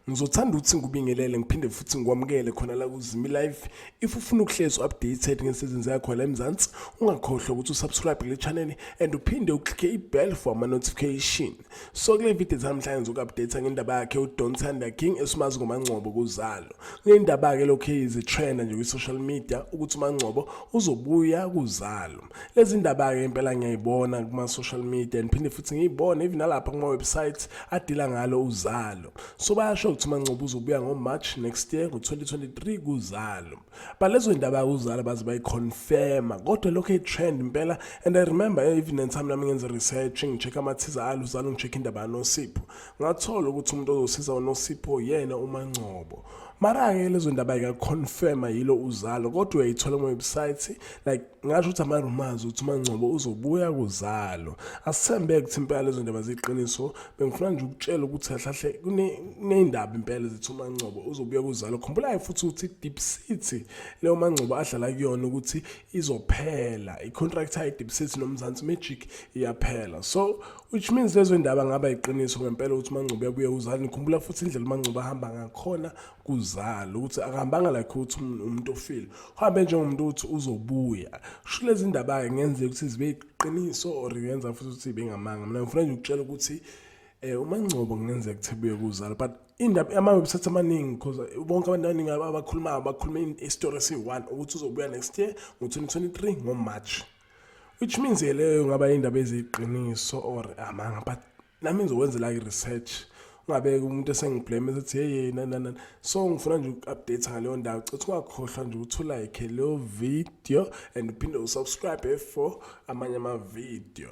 ngizothanda ukuthi ngikubingelele ngiphinde futhi ngikwamukele khona la kuzimi live if ufuna ukuhlezi updated ngesizini zakho la emzansi ungakhohlwa ukuthi usubscribe kule channel and uphinde uklike ibell for ama-notification So kule video zamhlanje ngizoku-update ngendaba yakhe uDon Thunder King esimazi ngoMangcobo kuzalo. Kunendaba ke lokho izi trend nje kwi social media ukuthi uMangcobo uzobuya kuzalo. Lezi ndaba ke impela ngiyayibona kuma social media ngiphinde futhi ngiyibone even nalapha kuma websites adila ngalo uzalo. So bayasho ukuthi uMangcobo uzobuya ngo March next year ngo 2023 kuzalo. but lezo zinto abakuzala baze bayiconfirma kodwa lokho i-trend impela and i remember even and time nami ngenza research ngi-check amathiza alo uzalo ngi-check indaba yanosipho ngathola ukuthi umuntu ozosiza unosipho yena umangcobo mara-ke lezo ndaba yikaconfirma yilo uzalo kodwa uyayithola kuma-website like ngasho ukuthi ama-rumors ukuthi umangcobo uzobuya kuzalo asithembeke ukuthi impela lezo ndaba ziyiqiniso bengifuna nje ukutshela ukuthi ahlahle kuney'ndaba impela zithi umangcobo uzobuya kuzalo khumbulayo futhi ukuthi i-deep city leyo mangcobo adlala kuyona ukuthi izophela i-contract yayo i-deep city nomzansi magic iyaphela so which means lezo ndaba ngaba yiqiniso ngempela ukuthi umangcobo uyabuya kuzalo nikhumbula futhi indlela umangcobo ahamba ngakhona kuzala ukuthi akahambanga like ukuthi um-, umuntu ofile uhambe njengomuntu ukuthi uzobuya sho lezi ndaba-ke ngenzeka ukuthi zibe iqiniso or ngenza futhi ukuthi bengamanga mina ngifuna nje ukutshela ukuthi um umangcobo kungenzeka ukuthi buye kuzala but indaba ama-website amaningi because eh, bonke abantu abaningi abakhulumayo bakhuluma isitori esiyi-one ukuthi uzobuya next year ngo-2023 ngomarch which means-ke leyo ngaba indaba eziyiqiniso or amanga but nami ngizokwenzela i-research ungabeki umuntu esengiblame esethi hey na na na so ngifuna nje uku-update ngaleyo ndawo citha ungakhohlwa nje ukuthi ulike leyo video and uphinde usubscribe for amanye ama-video